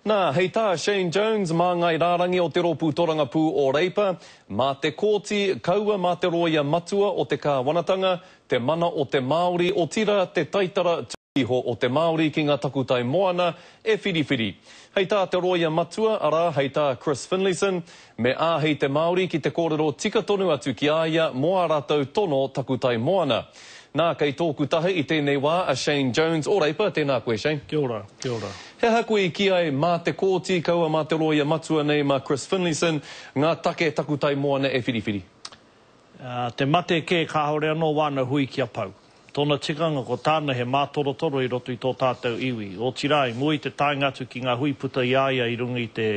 Nā, hei tā Shane Jones, māngai rārangi o te Rōpū Torangapū o Reipa, Mā te Kōti, kaua mā te Rōia Matua o te Kāwanatanga, te mana o te Māori, otirā te taitara tuku iho o te Māori ki ngā takutai moana, e whiriwhiri. Hei tā te Rōia Matua, arā, hei tā Chris Finlayson, Me āhei te Māori ki te kōrero tika tonu atu ki a ia mō ā rātou tono takutai moana. Nā, kei tōku taha i tēnei wā a Shane Jones o Reipa, tēnā koe Shane. Kia ora, kia ora. He aha koe i kī ai mā te Kōti, kaua mā te rōia matua nei, mā Chris Finlayson, ngā take takutai moana e whiriwhiri? Te mate kē kāore anō wāna hui kia pau. Tōna tikanga ko tāna he mātorotoro i roto i tō tātou iwi, otirā i mua i te taenga atu ki ngā hui puta i a ia i runga i te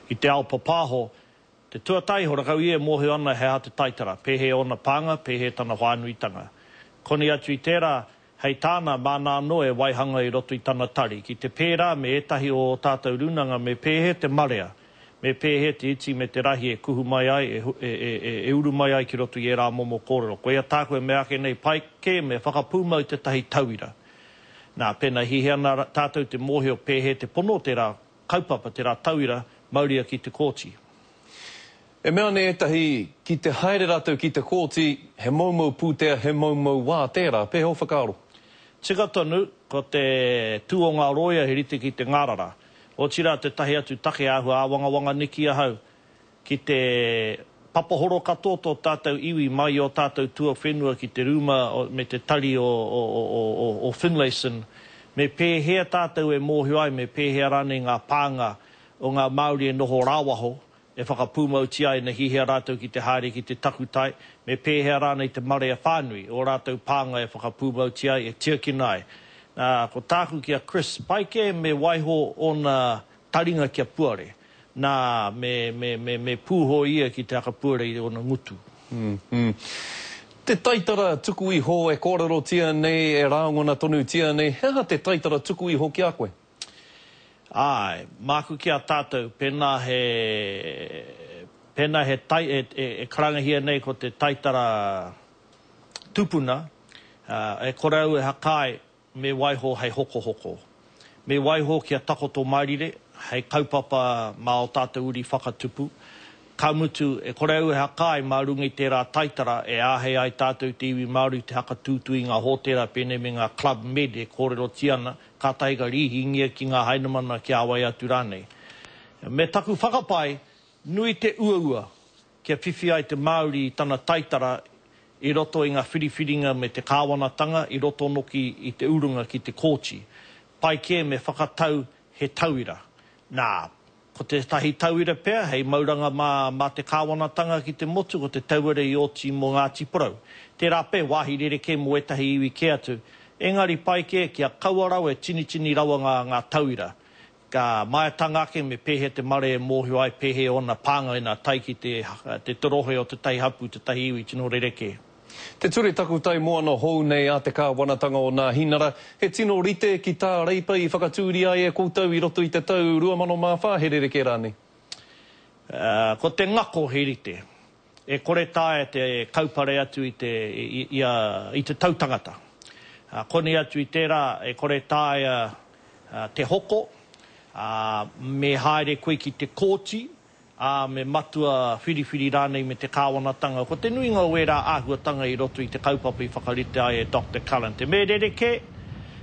i te ao papāho, te tuataiho rakau ia e mōhio ana he aha te taitara, pēhea ōna pānga, pēhea tana whānuitanga. Koni atu i tērā, Hei tāna, māna anō e waihanga i roto i tana tari, ki te pērā me ētahi o ō tātou rūnanga me pēhea te marea, me pēhea te iti me te rahi e kuhu mai ai, e uru mai ai ki roto i ērā momo kōrero. Koia tāku e mea ake nei, pai kē me whakapūmau tētahi tauira. Nā, pēnā hihia ana tātou te mōhio pēhea te pono o tērā kaupapa, tērā tauira, mauria ki te kōti. E mea ana ētahi, ki te haere rātou ki te kōti, he moumou pūtea, he moumou wā tērā. Pēhea ō whakaaro? Tika tonu, ko te tū o ngā rōia he rite ki te ngārara. Otirā tētahi atu take āhua āwangawanga niki ahau, ki te papahoro katoa tō tātou iwi mai i ō tātou tuawhenua ki te rūma me te tari o Finlayson, me pēhea tātou e mōhio ai, me pēhea rānei ngā pānga o ngā Māori e noho rāwaho, e whakapūmautia ai na hihea rātou ki te haere ki te takutai, me pēhea rānei te marea whānui, ō rātou pānga e whakapūmautia ai, e tiakina ai. Nā, ko tāku ki a Chris, pai kē me waiho ōna taringa kia puare. Nā, me, me, me, me pūho ia ki te akapuare i ōna ngutu. Mmm. Te taitara tuku iho e kōrerotia nei, e rāngona tonutia nei, he aha te taitara tuku iho ki a koe? Āe, māku ki a tātou, pēnā he, pēnā he tai, e, e, e karangahia nei ko te taitara tupuna, ā, e kore au e hakae Me waiho hei hokohoko. Me waiho kia takoto mārire hei kaupapa mā ō tātou uri whakatupu. Ka mutu, e kore au e hakai mā runga i tērā taitara e āhei ai tātou i te iwi Māori i te hakatūtū i ngā hōtēra pēnei me ngā Club Med e kōrerotia ana, kātahi ka rīhingia ki ngā hainamana kia āwai atu rānei. Me taku whakapae, nui te uaua, kia whiwhi ai te Māori i tana taitara i roto i ngā whiriwhiringa me te kāwanatanga i roto noki i te urunga ki te kōti. Pai kē me whakatau he tauira. Nā, ko tētahi tauira pea hei mauranga mā mā te kāwanatanga ki te motu ko te tauira i oti mō Ngāti Porou. Tērā pea, wāhi rerekē mō ētahi iwi kē atu. Engari pai kē kia kaua rawa e tinitini rawa ngā ngā tauira Ka maea tanga ake me pēhea te mare e mōhio ai pēhea ōna pānga ina tae ki te te torohe o tētahi hapū, tētahi iwi tino rerekē. Te Ture Takutai Moana hou nei a te Kāwanatanga o Nāhinara, he tino rite ki tā Reipa i whakatūria ai e koutou i roto i te tau 2004, he rerekē rānei? Ko te ngako he rite. E kore taea te kaupare atu i te, ia, i te tau tangata. Ā, koni atu i tērā, e kore taea te hoko, ā, me haere koe ki te kōti, ā, me matua whiriwhiri rānei me te kāwanatanga. Ko te nuinga o ērā āhuatanga i roto i te kaupapa i whakarite ai e Doctor Callan-te me rerekē,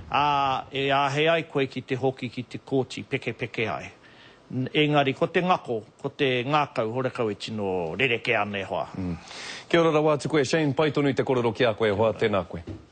ā, e āhei ai koe ki te hoki ki te kōti, pekepeke ai. Engari ko te ngako, ko te ngakau horekau e tino rerekē ana e hoa. Kia ora rawa atu koe Shane, pai tonu te korero ki a koe e hoa, tena koe.